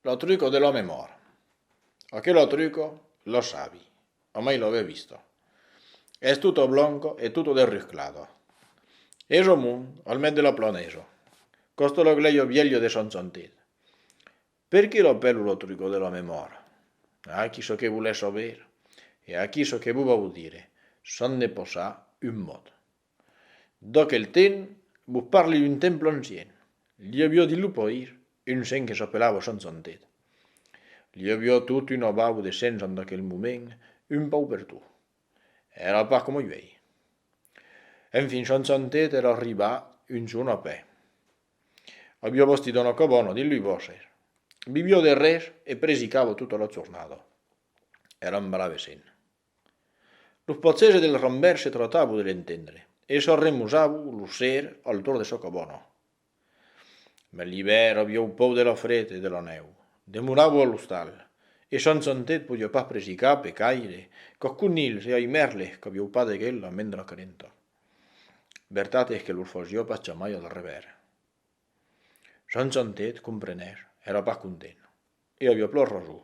Lo truco de l'òme mòrt. Aquelo truco lo sabi, omai lo veu visto. Es tutto blonco e tutto derrusclado. Es o mond al mes de lo plonejo, costo lo gleio vielho de son sontit. Perqué lo pèlu lo truco de l'òme mòrt? Ah, qui çò que volèsso ver, e aquí çò que vou vau dire, son de posar un mot. D'aquel temps, vos parli d'un temple ancien. Li aviá dit lo pair, un sent que s'apelava Sant Santet. Li aviá tot un abau de sents en d'aquel moment, un pauc per tot. Èra pas coma uèi. Enfin, Sant Santet èra arribat un jorn a pè. Aviá bastit una cabana dins lo bòsser. Viviá de res e presicava tota la jornada. Èra un brave sent. Los potzèja del rambèr se tratavo de l'entendre, e sò remosavo lo ser al torn de Socobòno. Mas l'ivèr aviáu pòu de la fret e de la nèu. Demoravo a l'ostal, e San Santet podiá pas presicar pe caire qu'ac conilhs e ai mèrles qu'aviáu pas de gel la mendra calenta. Vertat es que los fasiá pas jamai al revèr. San Santet, comprenèr, èra pas content, e aviá plor rasó.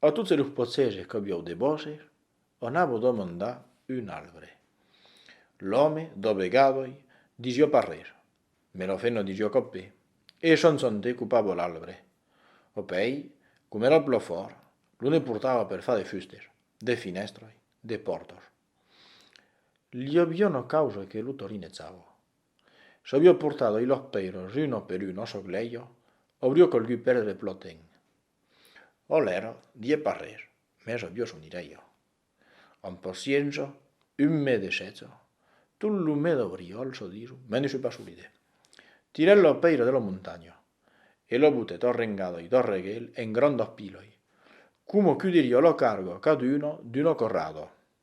A tot se lo potzege qu'aviou de vòsser, anava demandar un albre. L'òme dobegavoi, disió pas rer, me lo feno disió copé, e e chançante copava l'albre. Opèi, com era plo fòrt, lo ne portava per far de fustes, de finèstrai, de pòrtas. Li avió una causa que lo torinezava. S'avió portadoi los pèiros uno per uno a çò glèijo, aurió calgut perdre plo temps. Olèr, die pas res, mès aviós o nirè jo. Amb paciença, un mes de sètz, tot lo mes d'abriòl çò diso, me ne soi pas solidè. Tirè la pèira de la montanha e la butèt arrengadoi darregèl en granda piloi, coma qu'o diriá la carga caduna d'una corrada.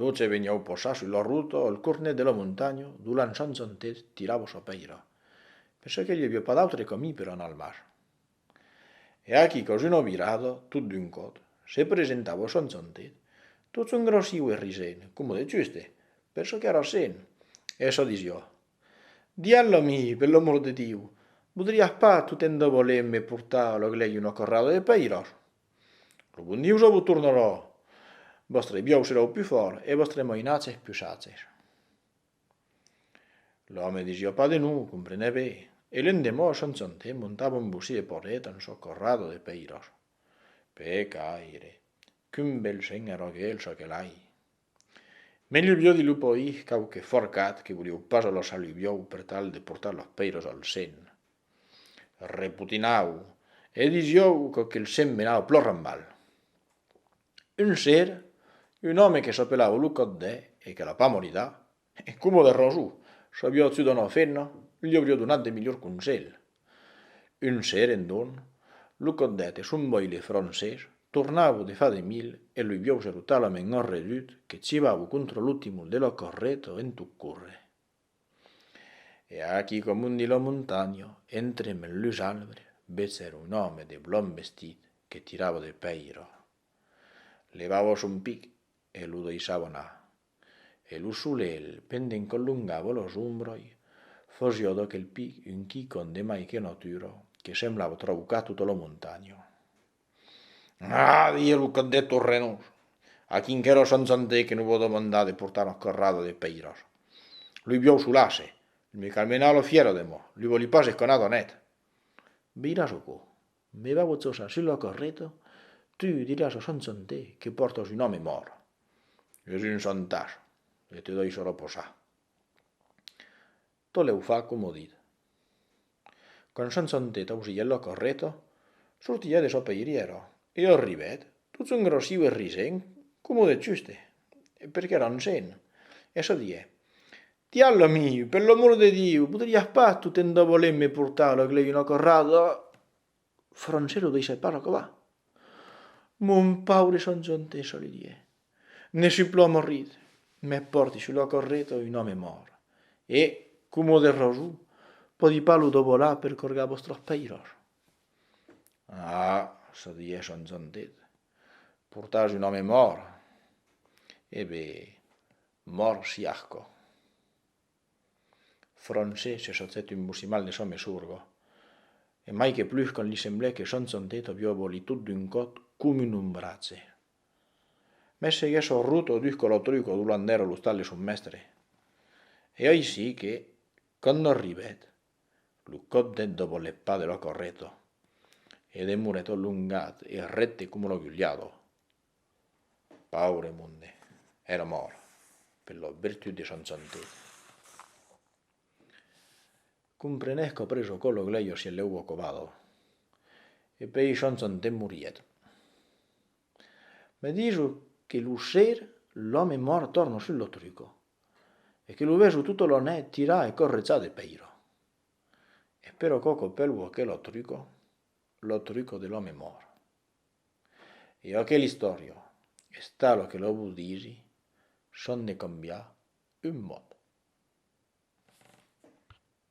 Tot se veniáu posar sus la ruta al cornet de la montanha d'o l'ençan Zantet tirava sa pèira, perçò que i aviá pas d'autre camí per anar al mar. E aquí qu'aus una virada, tot d'un còt, se presentava Sant Zantet, tot songrasiu e risent, coma de juste, perçò qu'èra sent, e se disiá, Dialh a mi, per l'amor de Diu, vodriás pas tot en davaler me portar a la glèia una carrada de pèiras? Lo bon Diu jo vos tornarò, vòstre biòu serà o pus fòrt e vòstre mainatz eth pus acer. L'òme de Jeopà de Nuu comprenec ben, e l'endemòu son sonte montava un bocí e porrèt en çò corrado de pèiros. Pecaire! Qu'un bel shen arroguèl çò que l'ai! Mès lo vieu de lupo i quauque forcat que volieu pas aloçar lo vieu per tal de portar los pèiros al sèn, repotinau e disieu quauque el sèn menau plorant mal. Un ser, un òme que s'apelava lo Còt de e que a la pamorida, E coma de rosor s'aviá auçut una femna, li auriá donat de melhors conselhs. Un seren, donc, lo cotdèt e son boile francés tornavo de fa de mil e lo viaus ero talament enredut que civavo contra lo timon de la carreta en tot córrer. E aquí que amundi la montanha, entre mèl los arbres, vesèro un òme de blanc vestit que tirava de pèira. Levava son pic e lo daissava anar. e lo solelh, pendent qu'olongavo los ombroi, fosió d'o quel pic un quicon de mai que natura que semblavo traucar tota lo montanho. Aah! didie lo còt deth torrenós, a quinquera sant santèr que non vò demandar de portar una corrada de pèiras. Lui vió solasse, li me calmenà lo fièro de mò, li voli pas esconar d'o net. Veiràs o cò, Me va bochosa sul lo correto, tu diràs au chançonter que pòrtas un òme mòrt. Es un chantage e te dòi se reposar. Tolèu fa coma dit. Quand chançonter tausilhèt lo correto, sortiá de sò peirièro e arribèt tot son grossiu e risent coma de chuste, perque era un sèn, e se dié, Tiallo amiu, per l'amor de Diu, podriás pas tot en de voler me portar lo glei una corrada? Francelo deishèt pas acabar. Mon paure Sanjonte, çò li didie, ne sui plo amorrit, me pòrti sus la correta un òme mòrt e, coma de rason, pòdi pas lo dobolar per corgar vòstras pèiras. Ah! se didie Sanjonte, portar un òme mòrt! E ben, Mòrt Siarco. Fronce se sotèt un bocimal de sò mesurgo, e mai que plus quand li semblèt que son santet avió abolí tot d'un còt com un ombratge. Mès seguèt sò ruto dus colo truco d'u lander a l'ostal de son mèstre. E aicí que, quand no arribèt, lo còt deth doboleppa de lo correto, e demorèt olongat e rècte como lo guliado, Paure monde, èra mòrt per la vertut de son santat. Comprenèc après çò lo glèu sia lèu ocobado, e pei son santat morièt. Me diso que lo ser l'òme mòrt torna sul lo truco, e que lo vejo tota la net tirar e corretzar de pèira. E però quò qu'opèlvo aquela truco, la truco de l'òme mòrt. E aquel istòria es tal lo que lo vos disi, s'an de cambiar un mot.